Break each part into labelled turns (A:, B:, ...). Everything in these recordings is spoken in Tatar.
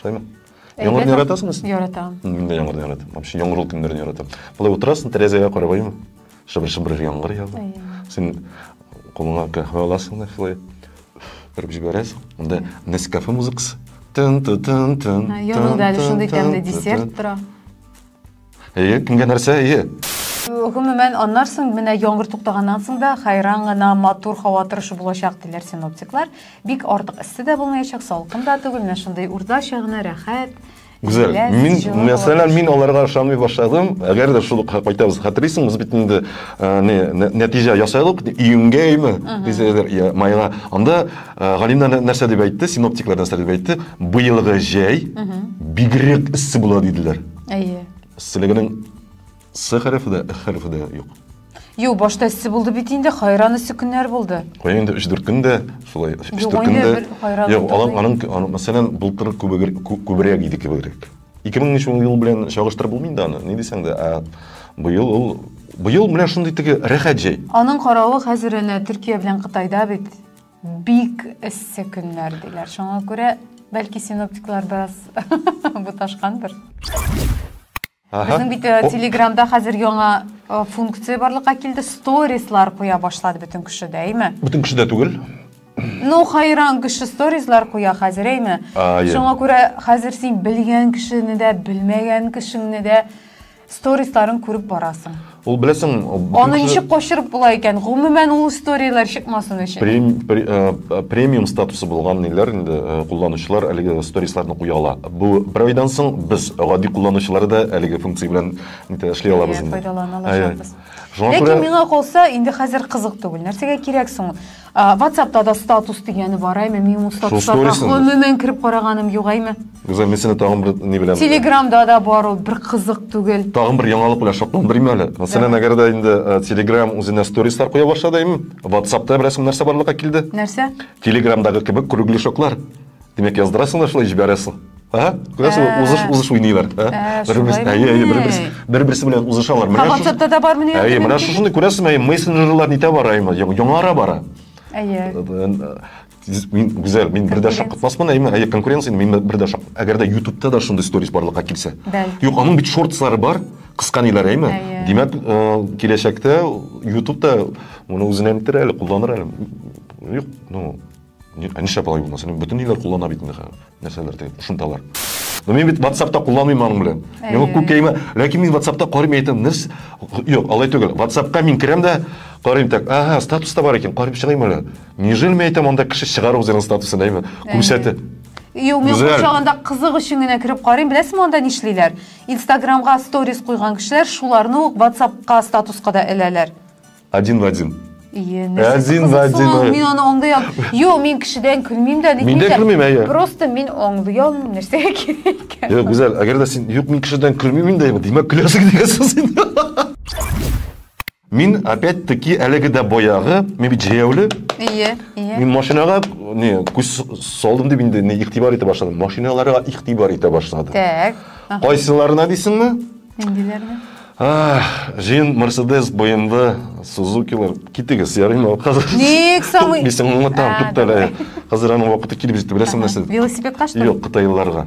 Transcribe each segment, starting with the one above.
A: Шулаймы? Яңгырны яратасыңыз? Яратам. Мин дә яңгырны
B: яратам.
A: Вообще яңгырлы көннәрне яратам. Болай утырасың, тәрәзәгә карап аю. Шыбыр-шыбыр яңгыр ява. Син кулыңа каһвә аласың да шулай торып җибәрәсең. Монда Нескафе музыкасы. Тын-тын-тын-тын. Янында әле
B: шундый тәмле десерт тора.
A: Әйе, кемгә нәрсә, әйе. Гомумән,
B: аннар соң менә яңгыр туктаганнан соң да хайран гына матур һава торышы булачак, диләр синоптиклар. Бик артык эссе дә булмаячак, салкын да түгел, менә шундый уртача гына рәхәт. Гүзәл,
A: мин, мәсәлән, мин аларга ышанмый башладым. Әгәр дә шул кайтабыз, хәтерлисең, без бит инде не нәтиҗә ясадык, июньгә име, дисәләр, я майга. Анда Галина нәрсә дип әйтте, синоптиклар нәрсә дип әйтте? Быелгы җәй бигрәк эссе була диделәр. Әйе.
B: Эсселегенең
A: С хәрефе дә, Х хәрефе дә юк. Юк, башта
B: эссе булды бит инде, хайран эссе көннәр булды. Кая инде 3-4 көндә
A: шулай 3-4 көндә. Юк, аның аның мәсәлән былтыр күбрәк иде кебегрәк. 2003 ел белән чагыштырып булмый инде аны. Ни дисәң дә, ә быел ул быел менә шундый теге рәхәт җәй. Аның каравы хәзер
B: әнә Төркия белән Кытайда бит. Бик эссе көннәр диләр. Шуңа күрә, бәлки синоптиклар бераз буташкандыр. Безнең бит э, телеграмда хәзер яңа э, функция барлыкка килде. Сторислар куя башлады бөтен кеше дә, әйме? Бөтен кеше дә түгел.
A: Ну,
B: хайран кеше сторислар куя хәзер, әйме? Шуңа күрә хәзер син белгән кешене дә, белмәгән кешеңне дә Сторисларын күреп барасың. Ул беләсең,
A: Аны ничек качырып
B: була икән? Гомумән ул историяләр чыкмасын өчен. Прем, пре, э, э, премиум
A: статусы булган ниләр инде э, кулланучылар әлеге сторисларны куя ала. Бу бер айдан соң без гади кулланучылар да әлеге функция белән нитә эшли алабыз инде. Файдалана
B: алачакбыз. Ләкин миңа калса, инде хәзер кызык түгел. Нәрсәгә кирәк соң? Ватсапта да статус дигәне бар, әйме, мин ул статусларга гомумән кереп караганым юк, әйме. Гүзәл, мин сине тагын
A: бер ни белән. Телеграмда да бар ул,
B: бер кызык түгел. Тагын бер яңалык белән
A: шатландырыйм әле. Мәсәлән, әгәр дә инде э, Telegram үзенә сторислар куя башлады, әйме, Ватсапта берәрсе нәрсә барлыкка килде? Нәрсә? Телеграмдагы
B: кебек
A: кругляшоклар. Димәк, яздырасың да шулай җибәрәсең. Ага, күрәсең, ә. узыш узыш уйныйлар. Ә, ә бер-берсе, әйе, әйе, бер-берсе, бер-берсе белән узышалар. Менә WhatsApp-та да бармы
B: нигә? Әйе, менә шушыны күрәсең,
A: әйе, мессенджерлар нитә бара, әйе, яңара бара. Әйе. Мин гүзәл, мин бер дә шаккатмаспын, әйе, әйе, конкуренция, мин бер дә шак. Әгәр дә YouTube-та да шундый сторис барлыкка килсә. Юк, аның бит шортслары бар, кыска ниләр, әйеме? Димәк, киләчәктә YouTube-та моны үзенә нитер әле, кулланыр әле. Юк, ну, Ә нишләп алай булмас? Бөтен ниләр куллана бит инде хәзер. Нәрсәләр теге кушымталар. Но мин бит WhatsApp-та кулланмыйм аның белән. Миңа күп кәймә. Ләкин мин WhatsApp-та карыйм әйтәм, нәрс? Юк, алай түгел. WhatsApp-ка мин керәм дә карыйм так. Ага, статус та бар икән, карыйм чыгыйм әле. Нежели мин әйтәм, анда кеше чыгар үзенең статусын, әйме? Күрсәтә. Юк, мин
B: курчагында кызык өчен генә кереп карыйм. Беләсезме анда нишлиләр? Инстаграмга сторис куйган кешеләр шуларны ук WhatsApp-ка статуска да эләләр. Один в один.
A: Ие, нәрсә Один
B: в один, кызыксың, ай. Мин аны аңлый алмыйм. Юк, мин кешедән көлмим дә, нитмим Мин дә көлмим, әйе. Просто
A: мин аңлый
B: алмыйм, нәрсәгә кирәк икән. Юк, Гүзәл, әгәр дә
A: син юк, мин кешедән көлмим инде, димәк көләсең дигән сүз инде. Мин опять-таки әлеге дә боягы, мин бит җәяүле. Ие, ие. Мин машинага не күз салдым дип инде не игътибар итә башладым. Машиналарга игътибар итә башладым. Так. Кайсыларына дисеңме?
B: Нендиләрне?
A: Җыен Мерседес, BMW, Сузукилар. Китегез, ярыймы? Хәзер Ник самый? Мин
B: сиңа аңлатам, туктале.
A: Ә, ә, ә. Хәзер аның вакыты килеп җитте, беләсең нәрсә? Велосипедка что? Юк,
B: кытайлыларга.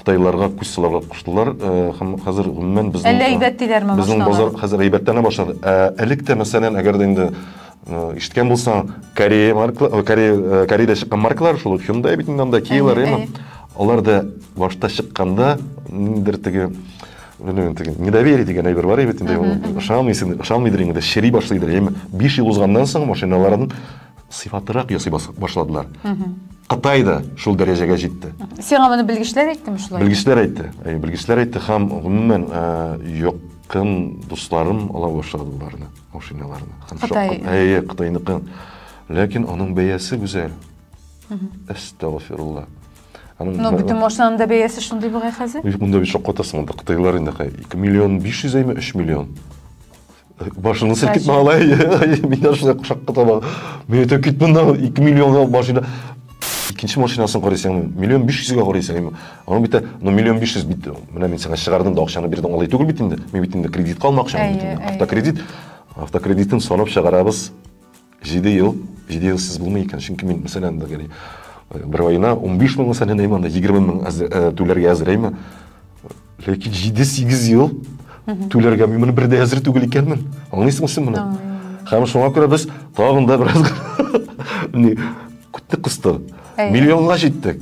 B: Кытайлыларга күз
A: салырга куштылар. Э, һәм хәзер гомумән безнең Әллә әйбәт диләрме? Безнең
B: базар хәзер
A: әйбәтләнә башлады. Ә элек тә мәсәлән, әгәр дә инде Ишеткән булсаң, Корея маркалар, э, Корея, э, Кореяда чыккан маркалар шул Hyundai бит инде анда, Kia-лар, Әйе, яме. әйе. Алар да башта чыкканда ниндидер теге белмим, теге недоверие дигән әйбер бар бит инде. ул Ышанмыйсың, ышанмыйдыр инде, шери башлыйдыр. Яме 5 ел узганнан соң машиналарын сыйфатлырак ясый бас- башладылар. Кытай да шул дәрәҗәгә җитте. Сиңа моны белгечләр
B: әйттеме шулай? Белгечләр әйтте. Әйе, белгечләр
A: әйтте һәм гомумән э, якын дусларым ала башлады боларны. машиналарны. Кытай. Әйе, Кытайныкы. Ләкин аның бәясе гүзәл. Әстәгфирулла.
B: Ну, бөтен машинаның да бәясе шундый бугай хәзер. Юк, монда бит шаккатасың, монда
A: Кытайлар инде 2 миллион 500 әйме 3 миллион. Башыңны селкетмә алай. Мин дә шулай шаккатам. Мин әйтәм, кит монда 2 миллионга машина. Икенче машинасын карыйсың, миллион 500 га карыйсың. Аның бит ну миллион 500 бит. Менә мин сиңа чыгардым да акчаны бирдем алай түгел бит инде. Мин бит инде кредитка алмакчы мин бит инде. Автокредит. Автокредитын санап чыгарабыз. 7 ел, 7 ел сез булмый икән. Чөнки мин мәсәлән дә гәли бер айына 15 мең мәсәлән әйме анда 20 мең түләргә әзер әйме. Ләкин 7-8 ел түләргә мин моны бердә әзер түгел икәнмен. Аңлыйсыңмы син моны? Һәм шуңа күрә без тагын да бераз не күтте кысты. Миллионга җиттек.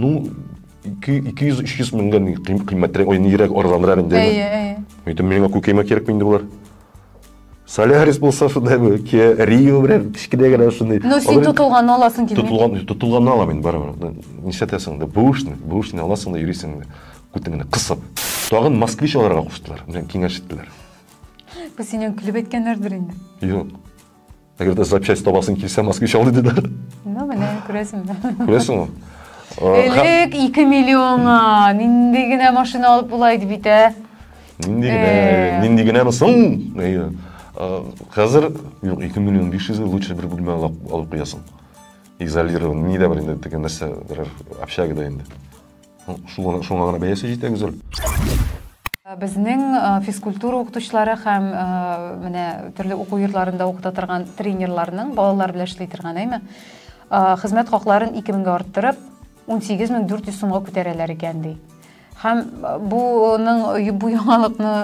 A: Ну, 200-300 меңгә кыйммәтрәк, ой, нирәк, арзанрак инде. Әйе, әйе. Әйтем, миңа күкәймә кирәкме инде болар? Солярис булса шундай бу, ке, Рио белән кечкенә генә шундый. Ну, син тотылган
B: аласың килми. Тотылган, тотылган алам мин барыбер.
A: Нишләтәсең дә, бушны, бушны аласың да йөрисең дә. Күтен генә кысып. Тагын москвич аларга куштылар, белән киңәш иттеләр.
B: Бу синең көлеп әйткәннәрдер инде. Юк.
A: Әгәр дә запчасть табасың килсә, москвич ал диде дә. Ну,
B: менә күрәсеңме?
A: Күрәсеңме?
B: Элек 2 миллионга нинди генә машина алып була иде бит, ә? Нинди генә, э. нинди
A: генәме соң? Хәзер юк, 2 миллион 500 лучше бер бүлмә алып куясың. Изолирован, ни дә бер инде, теге нәрсә, берәр общагада инде. Шуңа, шуңа гына бәясе җитә, Гүзәл.
B: Безнең физкультура укытучылары һәм менә төрле уку йортларында укыта торган тренерларның балалар белән эшли торган, әйме? Хезмәт хакларын 2000-гә арттырып, 18400 сумга күтәрәләр икән, ди. Һәм буның бу яңалыкны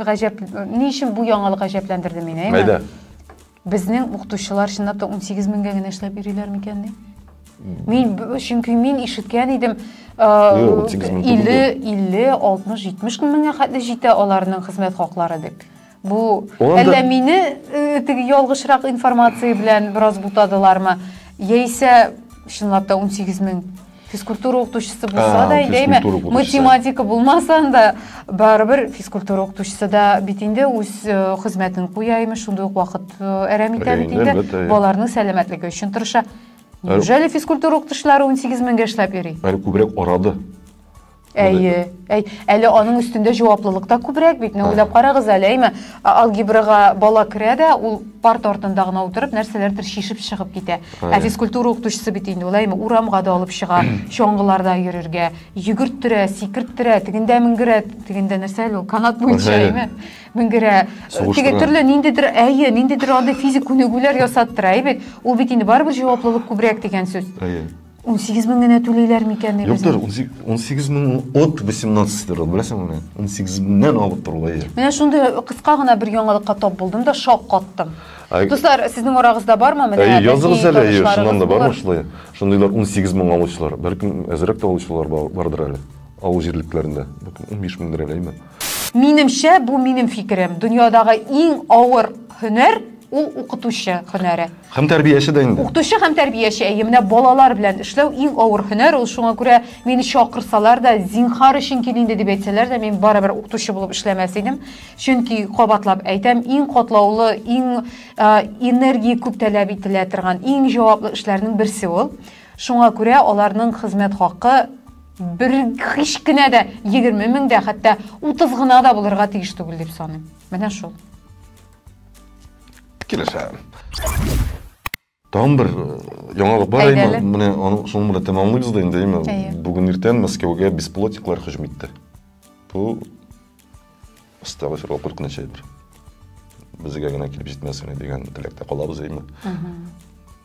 B: гаҗәп, ни өчен бу яңалык гаҗәпләндерде мине, әйме? Мәйдә. Безнең укытучылар чынлап та 18 меңгә генә эшләп йөриләр микән ди? Мин чөнки мин ишеткән идем, 50 50 60 70 меңгә хәтле җитә аларның хезмәт хаклары дип. Бу әллә мине э, теге ялгышрак информация белән бераз бутадылармы? Яисә чынлап та 18 мең физкультура укытучысы булса да әйдәме математика булмаса да барыбер физкультура укытучысы да бит инде үз хезмәтен куя имеш шундый ук вакыт әрәм итә бит инде балаларның сәламәтлеге өчен тырыша неужели физкультура укытучылары 18 меңгә эшләп йөри әле күбрәк арады
A: Әйе, әй,
B: әле аның өстендә җаваплылык та күбрәк бит. Менә уйлап карагыз әле, әйме, алгебрага бала керә дә, ул парт артында гына утырып, нәрсәләрдер шишеп чыгып китә. Ә физкультура укытучысы бит инде ул, әйме, урамга да алып чыга, чаңгыларда йөрергә, йөгерттертә, сикерттертә, тегендә менгерә, тегендә нәрсә әле ул, канат буенча, әйме, менгерә. Теге төрле ниндидер, әйе, ниндидер андый физик күнегүләр ясаттыра, әйе бит. Ул бит инде барыбер җаваплылык күбрәк дигән сүз. Әйе. 18 мең генә түлиләр микән
A: ни Юктыр, 18 мең от 18 дыр, беләсең менә. 18 меңнән алып торуга ия. Менә шундый кыска
B: гына бер яңалыкка тап булдым да шок каттым. Дуслар, сезнең арагызда бармы менә? Әйе, языгыз әле, әйе, шуннан
A: да бармы шулай? Шундыйлар 18 мең алучылар, бәлкем әзрәк тә алучылар бардыр әле. Авыл җирлекләрендә, бәлкем 15 меңдер әле, әйеме? Минемчә, бу
B: минем фикерем, дөньядагы иң авыр һөнәр ул укытучы һөнәре. Һәм тәрбияче дә инде.
A: Укытучы һәм тәрбияче,
B: әйе, менә балалар белән эшләү иң авыр һөнәр ул, шуңа күрә мине чакырсалар да, зинхар өчен кил инде дип әйтсәләр дә, мин барыбер укытучы булып эшләмәс идем. Чөнки, кабатлап әйтәм, иң катлаулы, иң ә, энергия күп таләп ителә торган, иң җаваплы эшләрнең берсе ул. Шуңа күрә аларның хезмәт хакы Бер һич кенә дә 20 мең дә, хәтта 30 гына да булырга тиеш түгел дип саныйм. Менә шул.
A: Килешәм. Тагын бер э, яңалык бар әйме? Менә аны шуның белән тәмамлыйбыз да инде, әйме? Бүген иртән Мәскәүгә бесплотниклар һөҗүм итте. Бу астагфирулла куркыныч әйбер. Безгә генә килеп җитмәсен дигән теләктә калабыз, әйме?